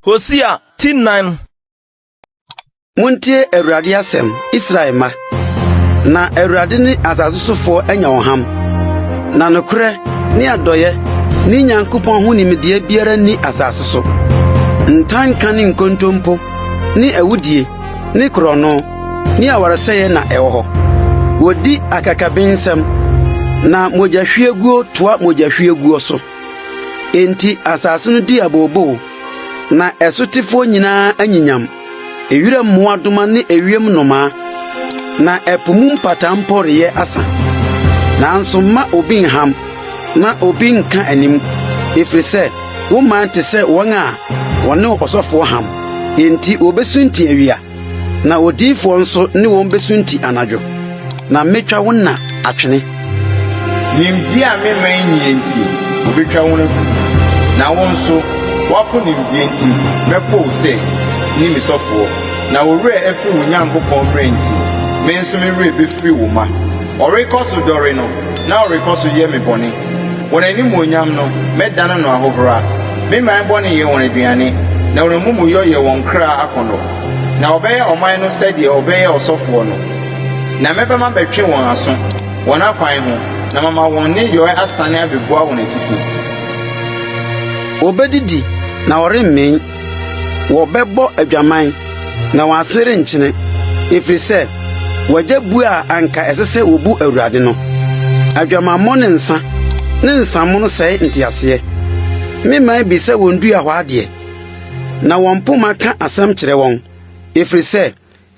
Hosea ti nnan. Montie Awurade asɛm, Israel mma, na Awurade ne asase sofoɔ anya wɔn ham, na nokorɛ ne adɔeɛ ne Nyankopɔn ho nimdeɛ biara nni asase so. Ntanka ne nkontompo ne awudie ne korɔno ne awaresɛeɛ na ɛwɔ hɔ. Wɔdi akakabensɛm, na mogyahwieguo toa mogyahwieguo so. Enti asase no di abooboo, na ɛsotefoɔ nyinaa anyinyam, ewira mmoadoma ne ewiem nnomaa, na ɛpo mu mpataa mpo reyɛ asa. Nanso mma obi nham, na obi nka anim, ɛfiri sɛ Wo man te sɛ wɔn a wɔne ɔsɔfoɔ ham, enti wɔbɛsunti awia, na odiyifoɔ nso ne wɔn bɛsunti anadwo, na mɛtwa wo nna atwene. Nimdeɛ a me man nni nti, wɔbɛtwa wɔn agu, na wo nso, woapo nimdeɛ nti, mɛpo wo sɛ, nni me sɔfoɔ. Na wo werɛ afiri wo Nyankopɔn mmara nti, me nso me werɛ bɛfiri wo mma. Wɔrekɔ so dɔre no, na wɔrekɔ so yɛ me bɔne. Wɔn animuonyam no, mɛdane no ahohora, me man bɔne yɛ wɔn aduane, na wɔn amumuyɔ yɛ wɔn kra akɔnnɔ. Na wɔbɛyɛ ɔman no sɛdeɛ wɔbɛyɛ ɔsɔfoɔ no, na mɛba mabɛtwe wɔn aso wɔn akwan ho, na mama wɔn nneyɔɛ asane abɛbua wɔn atifi. Wɔbɛdidi, na wɔremmee. wɔbɛbɔ adwaman, na wɔn ase renkyene, ɛfiri sɛ wɔagya bu a anka ɛsɛ sɛ wɔbu Awurade no. Adwamammɔ ne nsã ne nsamono sɛe nteaseɛ. Me man bi sɛ wɔn dua hɔ adeɛ, na wɔn poma ka asɛm kyerɛ wɔn, ɛfiri sɛ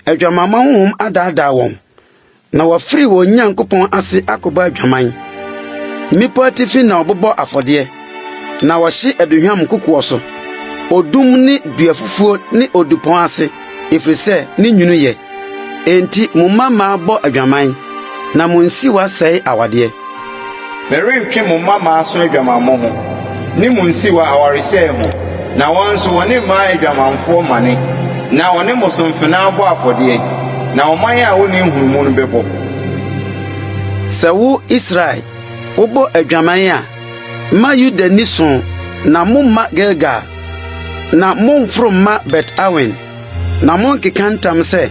adwamammɔ honhom adaadaa wɔn. Na wɔafiri wɔn Nyankopɔn ase akɔbɔ adwaman. Mmepɔ atifi na wɔbobɔ afɔdeɛ, na wɔhye aduhwam kokoɔ so, odum ne duafufuo ne odupɔn ase, ɛfiri sɛ ne nwunu yɛ. Enti mo mmammaa bɔ adwaman, na mo nsiwa sɛe awadeɛ. Merentwe mo mma mmaso adwamammɔ ho, ne mo nsiwa awaresɛe ho, na wɔn nso, wɔne mmaa yɛ adwamanfoɔ mane, na wɔne mosomfenaa bɔ afɔdeɛ, na ɔman a wɔnni nhunumu no bɛbɔ. Sɛ wo, Israel, wobɔ adwaman a, mma Yuda nni so, na momma Gilgal, na momforo mma Bet-Awen. Na monnkeka ntam sɛ,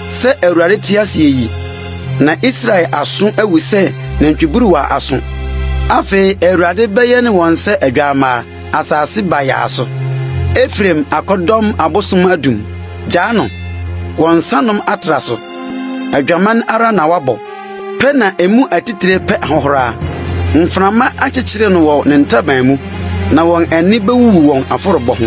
'Sɛ Awurade te ase yi, na Israel aso awu sɛ nantwiburuwa aso. Afei Awurade bɛyɛn wɔn sɛ adwammaa, asase bayaa so. Efraim akɔdɔm abosom adum, gyaa no, wɔn nsanom atra so. Adwaman ara na wabɔ, pɛ na emu atitire pɛ ahohora. Mframa akyekyere no wɔ ne ntaban mu, na wɔn ani bewuwu wɔn afɔrebɔ ho.